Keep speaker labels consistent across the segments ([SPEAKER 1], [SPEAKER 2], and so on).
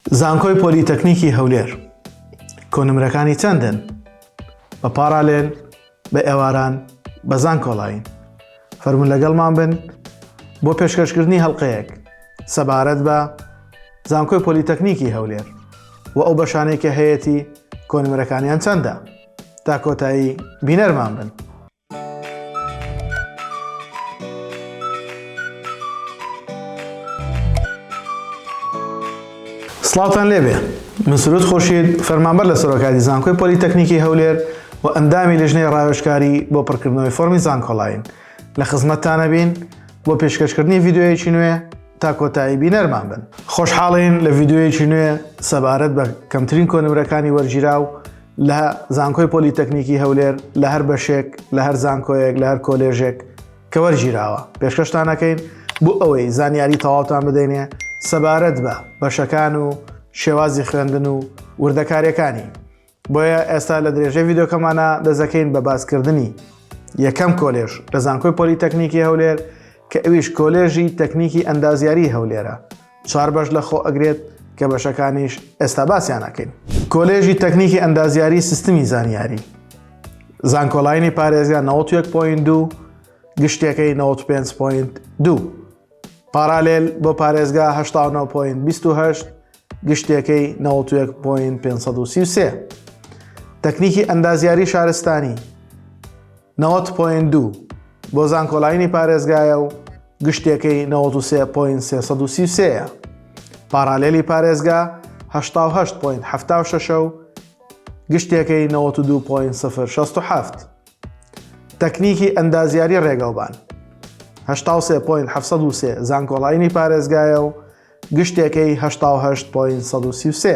[SPEAKER 1] زانکۆی پۆلیتەکنیکی هەولێر کۆنمرەکانی چەندن؟ بە پاڕالێل، بە ئێواران، بە زانکۆڵاین؟ فەرموون لەگەڵمان بن بۆ پێشکەشکردنی هەڵقەیەک سەبارەت بە زانکۆی پۆلیتەکنیکی هەولێر و ئەو بەشانەی کە هەیەتی کۆنمرەکانیان چەندە تا کۆتایی بینەرمان بن. سڵاوتان لێبێ من سرود خۆشید فەرمانبەر لە سەرۆکاتی زانکۆی پۆلیتەکنیکی هەولێر و ئەندامی لژنەی ڕاوێشکاری بۆ پڕکردنەوەی فۆرمی زانکۆڵین لە خزمەتتانە بین بۆ پێشکەشکردنی ڤیددیوەیەکی نوێ تا کۆتایی بینەرمان بن خۆشحاڵین لە ڤیددیوەیەکی نوێ سەبارەت بە کەمترین کۆنمرەکانی وەرگیرا و لە زانکۆی پۆلی تەکنیکی هەولێر لە هەر بەشێک لە هەر زانکۆیەک لە هەر کۆلێژێک کە وەرگیراوە پێشکەشتانەکەین بۆ ئەوەی زانیاری تەواوتان بدەینێ سەبارەت بە بەشەکان و شێوازی خوێندن و وردەکارەکانی بۆیە ئێستا لە درێژە یددیوکەمانە دەزەکەین بە باسکردنی یەکەم کۆلێژ لە زانکۆی پۆلی تەکنیکی هەولێر کە ئەویش کۆلێژی تەکنیکی ئەندازیاری هەولێرە چوار بەش لە خۆ ئەگرێت کە بەشەکانیش ئێستا باسیان ئەکەین. کۆلێژی تەکنیکی ئەندازیاری سیستمی زانیاری زانکۆلاینی پارێزگا 91.2 گشتەکەی 95.2 پارالێل بۆ پارێزگا 19.28 گشتەکەی 91.533 تەکنیکی ئەندازیاری شارستانی نەوەد پۆینت دوو بۆ زانکۆلاینی پارێزگایە و گشتێکەی نەوەد و سێ پۆینت سێ سەد و سی و سێیە. پاراالێلی پارێزگا هەشتا و هەشت پۆینت حەفتا و شەشە و گشتێکەی نەوەد و دوو پۆینت سفر شەست و حەفت. تەکنیکی ئەندازیاری ڕێگەوبان هەشتا و سێ پۆینت حەفسەد و سێ زانکۆلاینی پارێزگایە و گشتێکەی هەشتا و هەشت پۆینت سەد و سی و سێ.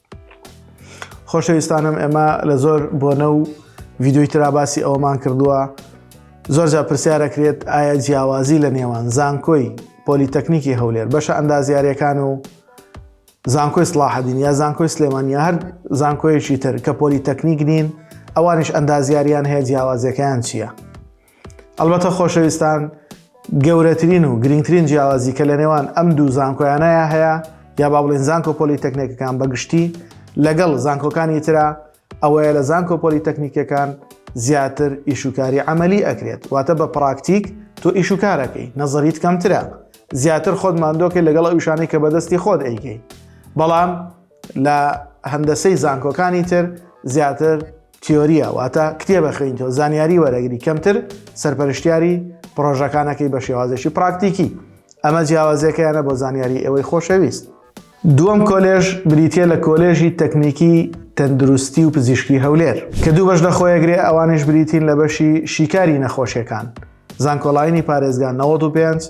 [SPEAKER 1] خۆشەویستانم ئێمە لە زۆر بۆنە و ڤیددیوی تراباسی ئەوەمان کردووە زۆر جا پرسیارەکرێت ئایا جیاوازی لە نێوان زانکۆی پۆلیتەکنیکی هەولێر بەشە ئەندازیارەکان و زانکۆی سلاحدین یا زانکۆی سلێمانیا هەر زانکۆیەکی تر کە پۆلیتەکنیک نین ئەوانش ئەندازیاریان هەیە جیاوازەکەیان چییە؟ ئەڵبەتە خۆشەویستان گەورەترین و گرنگترین جیاوازی کە لە نێوان ئەم دوو زانکۆیانەیە هەیە یا با بڵین زانکۆ پۆلی تەکنێکەکان بەگشتی لەگەڵ زانکۆکانی تررا ئەوەیە لە زانکۆ پۆلی تەکنیکەکان زیاتر ئیشوکاری عملی ئەکرێت واتە بە پراکتیک تۆ ئیشوکارەکەی نەزەریت کەمترە زیاتر خۆت مادۆکەی لەگەڵ ئەوشانەی کە بەدەستی خۆت ئەیکەی بەڵام لە هەندەسەی زانکۆکانی تر زیاتر تیۆرییە واتە کتێبە خوێنیتەوە زانیاری وەرەگری کەمتر سەرپەرشتیاری پرۆژەکانەکەی بە شێوازێکی پراکتیکی ئەمە جیاوازەکەیانە بۆ زانیاری ئێوەی خۆشەویست دووەم کۆلێژ بریتە لە کۆلێژی تەکنیکی تەندروستی و پزیشکی هەولێر کە دوو بەش لەخۆیەگرێ ئەوانیش بریتین لە بەشی شیکاری نەخۆشیەکان زانکۆلاینی پارێزگان 95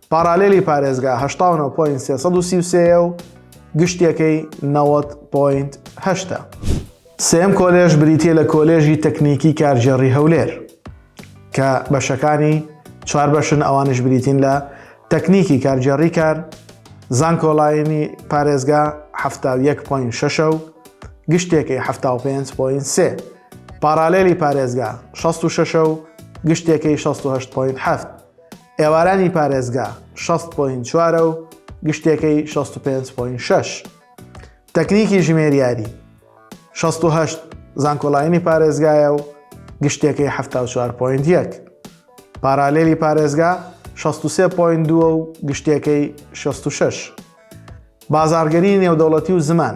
[SPEAKER 1] پاڕالێلی پارێزگا هەشتا و نۆ پۆینت سێ سەد و سی و سێ یە و گشتیەکەی نەوەد پۆینت هەشتە. سێیەم کۆلێژ بریتییە لە کۆلێژی تەکنیکی کارگێڕی هەولێر کە بەشەکانی چوار بەشن ئەوانیش بریتین لە تەکنیکی کارگێڕی کار، زانکۆلاینی پارێزگا حەفتا و یەک پۆینت شەشە و گشتێکەی حەفتا و پێنج پۆینت سێ. پاڕالێلی پارێزگا شەست و شەشە و گشتێکەی شەست و هەشت پۆینت حەفت. ئێوارانی پارێزگا شەست پۆینت چوارە و گشتێکەی شەست و پێنج پۆینت شەش. تەکنیکی ژمێریاری شەست و هەشت زانکۆلاینی پارێزگایە و گشتێکەی حەفتا و چوار پۆینت یەک. پارالێلی پارێزگا شەست و سێ پۆینت دووە و گشتێکەی شەست و شەش. بازاڕگەری نێودەوڵەتی و زمان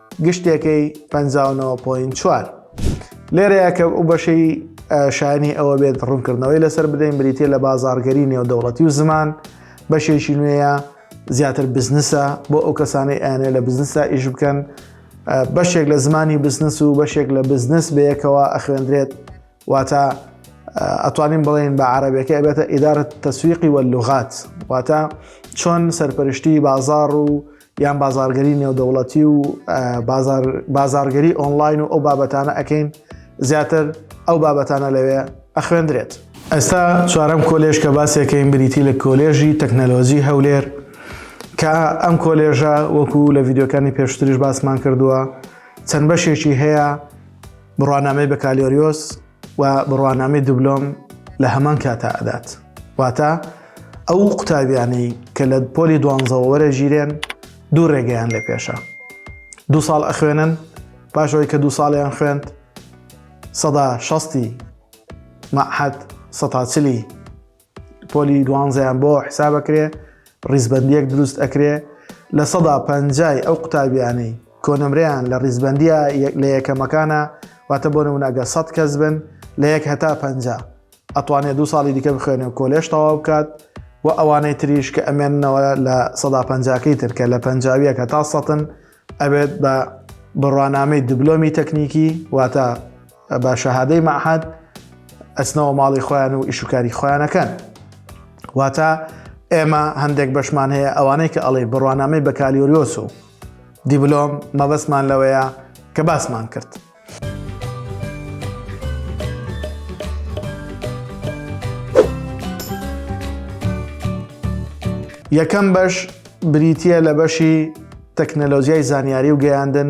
[SPEAKER 1] گشتێکەی پەنجا و نۆ پۆین چوار. لێرەیە کە ئەو بەشەی شایانی ئەوە بێت ڕوونکردنەوەی لەسەر بدەین بریتە لە بازارگەری نێودەوڵەتی و زمان بەشێکی نوێیە زیاتر بزنسە بۆ ئەو کەسانی ئەیانێ لە بزنسا ئیش بکەن بەشێک لە زمانی بزنس و بەشێک لە بزنس بەیەکەوە ئەخوێندرێت واتە ئەتوانین بڵێن بە عربەکە ئەبێتە ئیدارە تەسویقی وە لغات واتە چۆن سەرپەرشتی بازار و یان بازارگەری نێودەوڵەتی و بازارگەری ئۆنلاین و ئەو بابەتانە ئەەکەین زیاتر ئەو بابەتانە لەوێ ئەخوێندرێت. ئێستا چوارەم کۆلێژ کە باسێکەین بریتی لە کۆلێژی تەکنەلۆجی هەولێر کە ئەم کۆلێژە وەکو لە ڤیددیوکانی پێشتریش باسمان کردووە چەند بەشێکی هەیە بڕوانامەی بەکالیۆریۆس و بڕوانامەی دوبلۆم لە هەمان کاتا ئەدات واتە ئەو قوتابیانی کە لە پۆلی دوانزەوە وەرە ژیرێن دوو ڕێگەیان لە پێشە دوو ساڵ ئەخوێنن پاشەوەی کە دوو ساڵیان خوێند سەدا شەستی مەحەد سەتاچلی پۆلی دوانزەیان بۆ حسابەکرێ ڕیزبەندیەک دروست ئەکرێ لە سەدا پەنجای ئەو قوتابیانەی کۆنمرەیان لە ڕیزبندیە لە یەکەمەکانە واتە بۆ نمونەگە سەد کەس بن لە یەک هەتا پەنج ئەتوانێت دو ساڵی دیکە بخوێنێ و کۆلێش تەواو بکات و ئەوانەی تریش کە ئەمێنەوە لە سەدا پەنجاکەی ترکە لە پەنجاویەکە تا سەتن ئەبێت بە بڕوانامەی دبلۆمی تەکنیکی واتە بە شەهادەی مەعهد ئەچنەوە ماڵی خۆیان و ئیشوکاری خۆیانەکەن واتە ئێمە هەندێک بەشمان هەیە ئەوانەی کە ئەڵێ بڕوانامەی بەکالیۆریۆس و دیبلۆم مەبەستمان لەوەیە کە باسمان کرد. یەکەم بەش بریتە لە بەشی تەکنەلۆزیای زانیاری و گەیاندن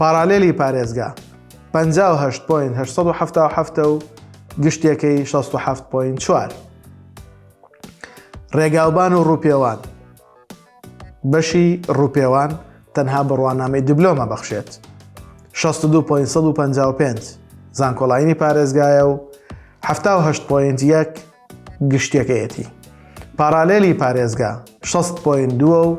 [SPEAKER 1] پاڕالێلی پارێزگا پەنجا و هەشت پۆینت هەشت سەد و حەفتا و حەفت و گشتیەکەی شەست و حەفت پۆینت چوار. ڕێگاوبان و ڕووپێوان بەشی ڕووپێوان تەنها بڕوانامەی دبلۆمە بەخشێت 62.55 زانکۆڵینی پارێزگایە و 1970.1 گشتەکەیەتی پارالێلی پارێزگا 6.2 و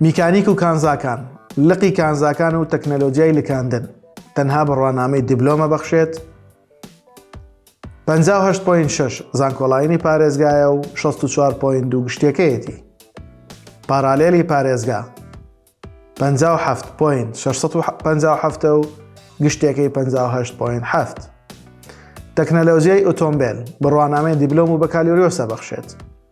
[SPEAKER 1] میکانیک و کانزاکان، لقی کانزاکان و تەکنەلۆجیای لکاندن تەنها بڕوانامەی دیبلۆمە بەخشێت، پەنجا و هەشت پۆینت شەش زانکۆڵاینی پارێزگایە و شەست و چوار پۆینت دوو گشتیەکەیەتی. پارالێلی پارێزگا پەنجا و حەفت پۆینت شەش سەد و پەنجا و حەفتە و گشتیەکەی پەنجا و هەشت پۆینت حەفت. تەکنەلۆجیای ئۆتۆمبێل بڕوانامەی دیبلۆم و بەکالیۆریۆسە بەخشێت.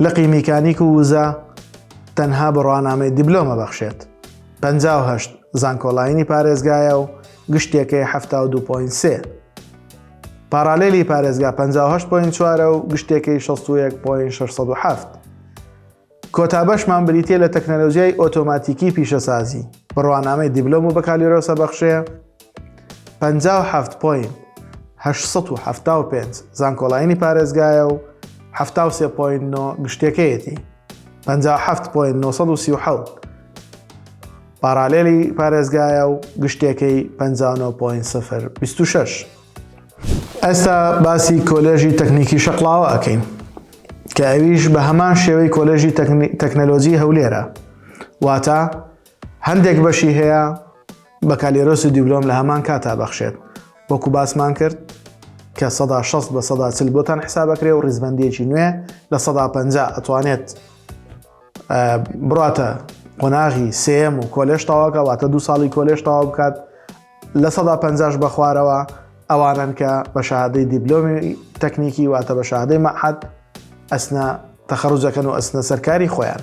[SPEAKER 1] لقی میکانیک و وزە تەنها بڕوانامەی دیبلۆمە بەخشێت. پەنجا و هەشت زانکۆڵاینی پارێزگایە و گشتێکەی حەفتا و دوو پۆینت سێ. پارالیلی پارێزگا پەنجا و هەشت پۆینت چوارە و گشتێکەی شەست و یەک پۆینت شەش سەد و حەفت. کۆتا بەشمان بریتییە لە تەکنەلۆژیای ئۆتۆماتیکی پیشەسازی، بڕوانامەی دیبلۆم و بەکالیۆرۆسە بەخشێ، پەنجا و حەفت پۆینت هەشت سەد و حەفتا و پێنج زانکۆڵاینی پارێزگایە و حەفتا و سێ پۆینت نۆ گشتەکەیەتی پەنجا و حەفت پۆینت نۆ سەد و سی و حەوت پارالێلی پارێزگایە و گشتەکەی پەنجا و نۆ پۆینت سفر بیست و شەش ئێستا باسی کۆلێژی تەکنیکی شەقڵاوە ئەکەین کە ئەویش بە هەمان شێوەی کۆلێژی تەکنەلۆجی هەولێرە واتە هەندێک بەشی هەیە بەکالێرۆس و دیبلۆم لە هەمان کاتا بەخشێت وەکو باسمان کرد کە سەدا 6 بە سەدا چل بۆتان حسابەکرێ و ڕیزبندێکی نوێ لە سەدا پ ئەتوانێت بڕاتە قۆناغی سم و کۆلێش تاواکە واتە دو ساڵی کۆلێش تاوا بکات لە سەدا پ بە خوارەوە ئەوانن کە بە شادەی دیبلۆمی تەکنیکی واتە بە شادەی مەحەد ئەسنە تەخەڕوجەکەن و ئەسنە سەرکاری خۆیان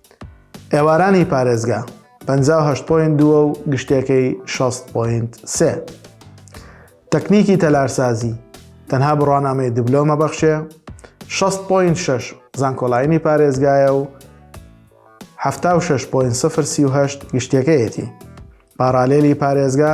[SPEAKER 1] ئێوارانی پارێزگا پەنجا و هەشت پۆینت دووە و گشتەکەی شەست پۆینت سێ. تەکنیکی تەلارسازی تەنها بڕوانامەی دبلۆمە بەخشێ، شەست پۆینت شەش زانکۆلاینی پارێزگایە و هەفتا و شەش پۆینت سفر سی و هەشت گشتەکەیەتی. پاڕالێلی پارێزگا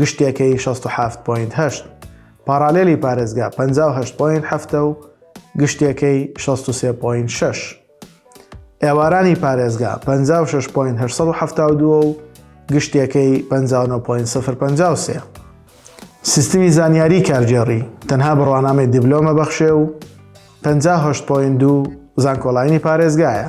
[SPEAKER 1] گشتێکەی شەست و حەفت پۆینت هەشت، پاڕالێلی پارێزگا پەنجا و هەشت پۆینت حەفتە و گشتێکەی شەست و سێ پۆینت شەش، ئێوارانی پارێزگا پەنجا و شەش پۆینت هەشت سەد و حەفتا و دوو و گشتێکەی پەنجا و نۆ پۆینت سفر پەنجا و سێ. سیستمی زانیاری کارگێڕی تەنها بڕوانامەی دیبلۆمە بەخشێ و پەنجا و هەشت پۆینت دوو زانکۆلاینی پارێزگایە.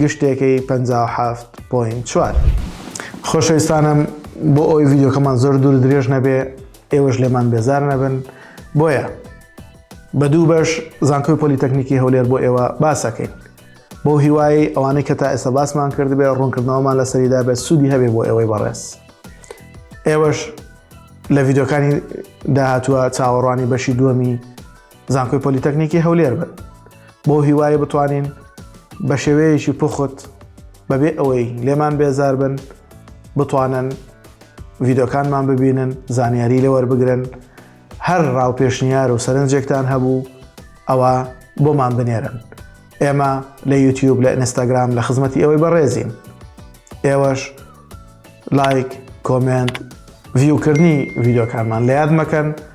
[SPEAKER 1] گشتێکەی پەنجا و حەفت پۆینت چوار. خۆشەویستانم بۆ ئەوی ڤیدیۆکەمان زۆر دوور درێژ نەبێ ئێوەش لێمان بێزار نەبن بۆیە بە دوو بەش زانکۆی پۆلیتەکنیکی هەولێر بۆ ئێوە باسەکەین بۆ هیوای ئەوانەی کە تا ئێستا باسمان کردبێ ڕوونکردنەوەمان لە سەریدا بێت سوودی هەبێ بۆ ئێوەی بەڕێز ئێوەش لە ڤیددیوکانی داهاتووە چاوەڕوانی بەشی دووەمی زانکۆی پۆلیتەکنیکی هەولێر بن بۆ هیوای بتوانین بە شێوەیەکی پخت بەبێ ئەوەی لێمان بێزار بن بتوانن ڤیدۆکانمان ببینن زانیاری لەوەر بگرن هەر ڕاو پێشنیار و سەرنجێکتان هەبوو ئەوە بۆمان بنێرن ئێمە لە یوتیوب لە ئینستاگرام لە خزمەتی ئەوەی بەڕێزین ئێوەش لایک کۆمنت ڤیوکردنی ڤیدۆکانمان لە یاد مەکەن